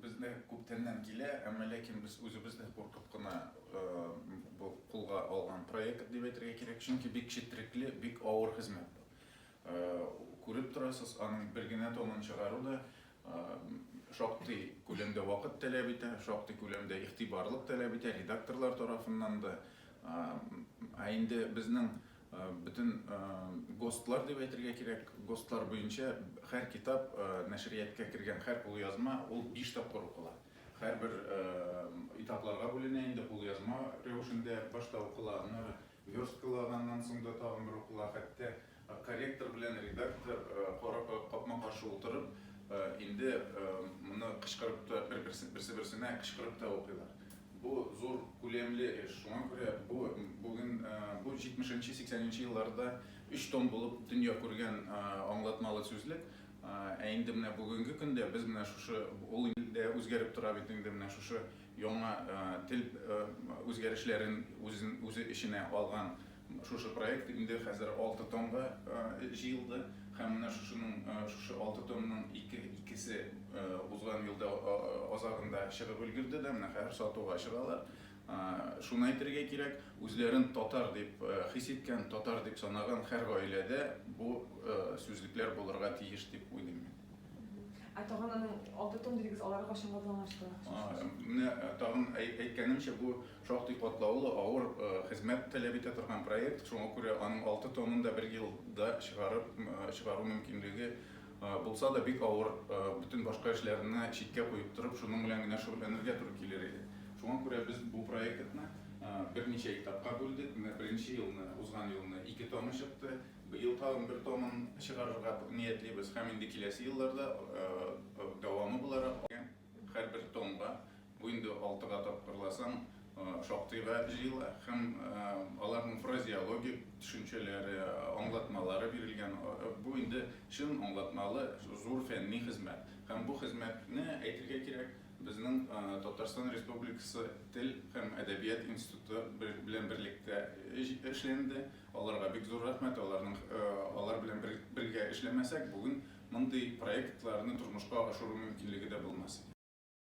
Бездә күптәннән килә, әмма ләкин без үзебез дә куркып кына бу кулга алган проект дип әйтергә кирәк, чөнки бик четрекле, бик авыр хезмәт бу. Күреп торасыз, аның бер генә томын чыгару да шактый күләмдә вакыт таләп итә, шактый күләмдә игътибарлык таләп итә, редакторлар тарафыннан да. Ә инде безнең Бөтен ГОСТлар дип әйтергә кирәк, ГОСТлар буенча һәр китап, нәшрияткә кергән һәр кулъязма, ул биш тапкыр укыла. Һәрбер этапларга бүленә инде, кулъязма рәвешендә башта укыла, аннары версткалаганнан соң да тагын бер укыла, хәтта корректор белән редактор капма-каршы утырып, инде моны кычкырып та, берсе-берсенә кычкырып та укыйлар. Бу зур күләмле эш, шуңа күрә бу бүген бу җитмешенче, сиксәненче елларда өч том булып дөнья күргән аңлатмалы сүзлек, ә инде менә бүгенге көндә без менә шушы, ул инде дә үзгәреп тора бит инде, менә шушы яңа тел үзгәрешләрен үзе эченә алган Шушы проект инде хәзер алты томга җыелды һәм менә шушының, шушы алты томның ике, икесе узган елда азагында чыгып өлгерде дә, менә хәзер сатуга чыгалар. Шуны әйтергә кирәк, үзләрен татар дип хис иткән, татар дип санаган һәр гаиләдә бу сүзлекләр булырга тиеш дип уйлыйм мин. Ә тагын аның алты том дидегез, алары кайчанга планлашты? Менә тагын әйткәнемчә, бу Шактый катлаулы, авыр хезмәт таләп итә торган проект, шуңа күрә аның алты томын да бер елда чыгарып чыгару мөмкинлеге булса да, бик авыр, бөтен башка эшләрне читкә куеп торып, шуның белән генә шөгыльләнергә туры килер иде. Шуңа күрә без бу проектны берничә этапка бүлдек, менә беренче елны, узган елны ике томы чыкты, быел тагын бер томын чыгарырга ниятлибез һәм инде киләсе елларда дәвамы буларак һәрбер томга Бу инде алтыга тапкырласаң, шактыйга җыела һәм аларның фразеологик төшенчәләре, аңлатмалары бирелгән. Бу инде чын аңлатмалы зур фәнни хезмәт. Һәм бу хезмәтне, әйтергә кирәк, безнең Татарстан Республикасы Тел һәм әдәбият институты белән берлектә эшләнде. Аларга бик зур рәхмәт. Аларның алар белән бергә эшләмәсәк, бүген мондый проектларны тормышка ашыру мөмкинлеге дә булмас иде.